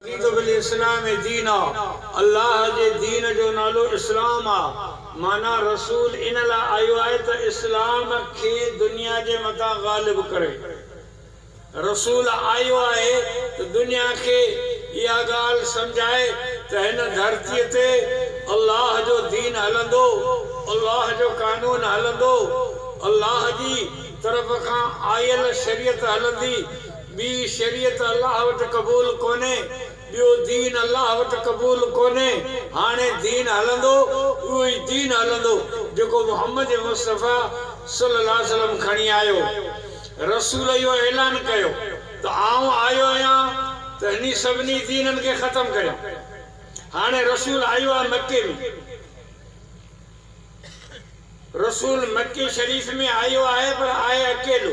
رضيت بالاسلام دينا، الله جي دين جو نالو اسلام آ، معنيٰ رسول ان لاء آيو آهي ته اسلام کي دنيا جي مٿان غالب ڪري. رسول آيو آهي ته دنيا کي اها ڳالهه سمجهائي ته هن ڌرتيء تي الله جو دين هلندو، الله جو قانون هلندو، الله جي طرف کان آيل شريعت هلندي، ٻي شريعت الله وٽ قبول ڪونهي، ٻيو دين الله وٽ قبول ڪونهي، هاڻي دين هلندو، اهو ئي دين هلندو جيڪو محمد مصطفيٰ صلّي الله عليه وسلّم کڻي آيو. رسول اهو اعلان ڪيو ته آئون آيو آهيان ته انهي سڀني دينن کي ختم ڪريان. هاڻي رسول آيو آهي مڪي ۾. رسول مڪي شريف ۾ آيو آهي پر آهي اڪيلو.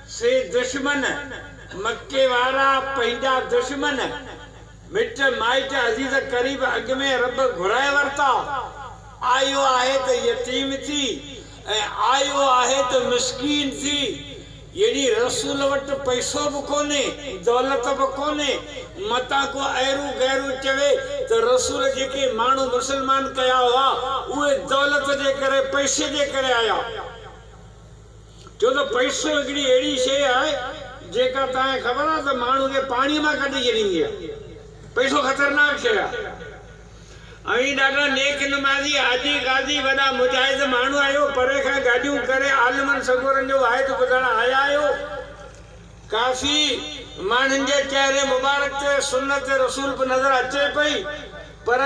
سي دشمن، مڪي وارا، پنهنجا دشمن، مٽ مائٽ، عزيز قريب، اڳ ۾ رب گهرائي ورتا، آيو آهي ته يتيم ٿي ۽ آيو آهي ته مسڪين ٿي، يعني رسول وٽ پئسو به ڪونهي، دولت به ڪونهي، متان ڪو ايرون غيرون چوي ته رسول جيڪي ماڻهو مسلمان ڪيا هئا، اهي دولت جي ڪري، پئسي جي ڪري آيا. ڇو ته پئسو هڪڙي اهڙي شيء آهي، جيڪا توهان کي خبر آهي ته ماڻهو کي پاڻيء مان ڪڍي ڇڏيندي آهي. پئسو خطرناڪ شيء آهي. اوهين ڏاڍا نيڪ نمازي، حاجي، قاضي، وڏا مجاهد ماڻهو آهيو، پري کان گاڏيون ڪري عالمن سڳورن جو واحد ٻڌڻ آيا آهيو. ڪافي ماڻهن جي چهري مبارڪ تي سنت رسول به نظر اچي پئي، پر.